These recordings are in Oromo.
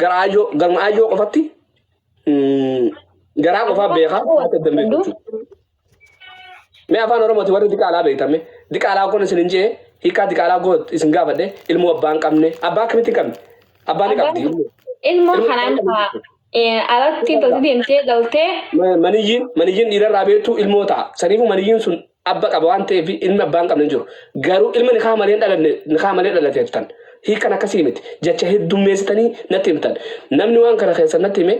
Gara aayyoo garma aayyoo qofatti mm, garaa qofaa beekaa haati adda beeku jechuudha. Mee afaan Oromooti warri diqaalaa beektame diqaalaa kun isin hin jee hiikaa diqaalaa goot isin gaafadhe ilmoo abbaa hin qabne abbaa akkamitti hin qabne abbaa ni qabdi. Ilmoo kanaan fa'aa eh, alatti tolti deemtee dhaltee Ma- Maniyyiin maniyyiin dhiirarraa beektu ilmoo ta'a saniifuu maniyyiin sun abba qaba waan ta'eef ilmi abbaa hin qabne hin jiru. Garuu ilma nikaa malee hin dhalanne nikaa malee dhalate jettan. Hiikan akkasii miti. Jecha heddummeessitanii natti himtan. Namni waan kana keessa natti hime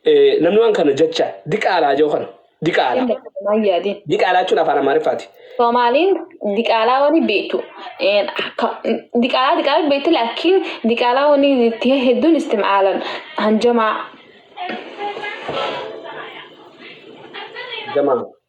eh, namni waan kana jecha diqaalaa jedhu kana diqaalaa. Inni akkanaan yaadin. Diqaalaa jechuun afaan Amaariffaati. Soomaaliin diqaalaa wani beektu. Een, akka- Diqaalaa diqaalaa beektu laakiin diqaalaa wani itti hedduun istimaalan hanjamaa. Jamaa.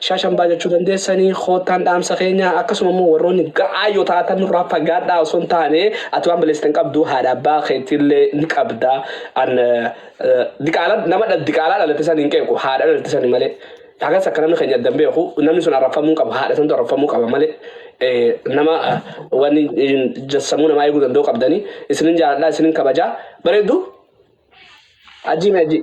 Shaashambaa jechuu dandeessanii koottaan dhaamsa keenya akkasuma immoo warroonni ga'aa yoo taatan nurraa fagaadhaa osoo hin taane ati waan balleessite hin qabdu haadha abbaa keetiillee ni qabda an diqaala nama dha diqaalaa dhalate san hin qeequ haadha dhalate sani malee hagas akka namni keenya addan beeku namni sun arrabfamuu qaba haadha santu arrabfamuu qaba malee nama waan jassamuu namaa eeguu danda'u qabdanii isinin jaaladhaa isinin kabajaa bareedu ajii mee ajii.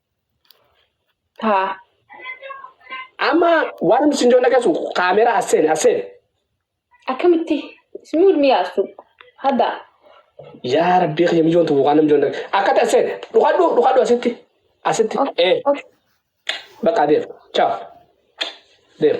Haa. Amma waan nuti isin joollee keessu kaameeraa as seene as seene. Akkamitti? Ismi wal miyaastu. Hadda. Yaa rabbii kiyya mijoon tuqu waan namjoon dhabe. Akka ta'e seene. Dhukadhu dhukadhu asitti. Asitti. Ee. Bakka deema. Chaaf. Deema.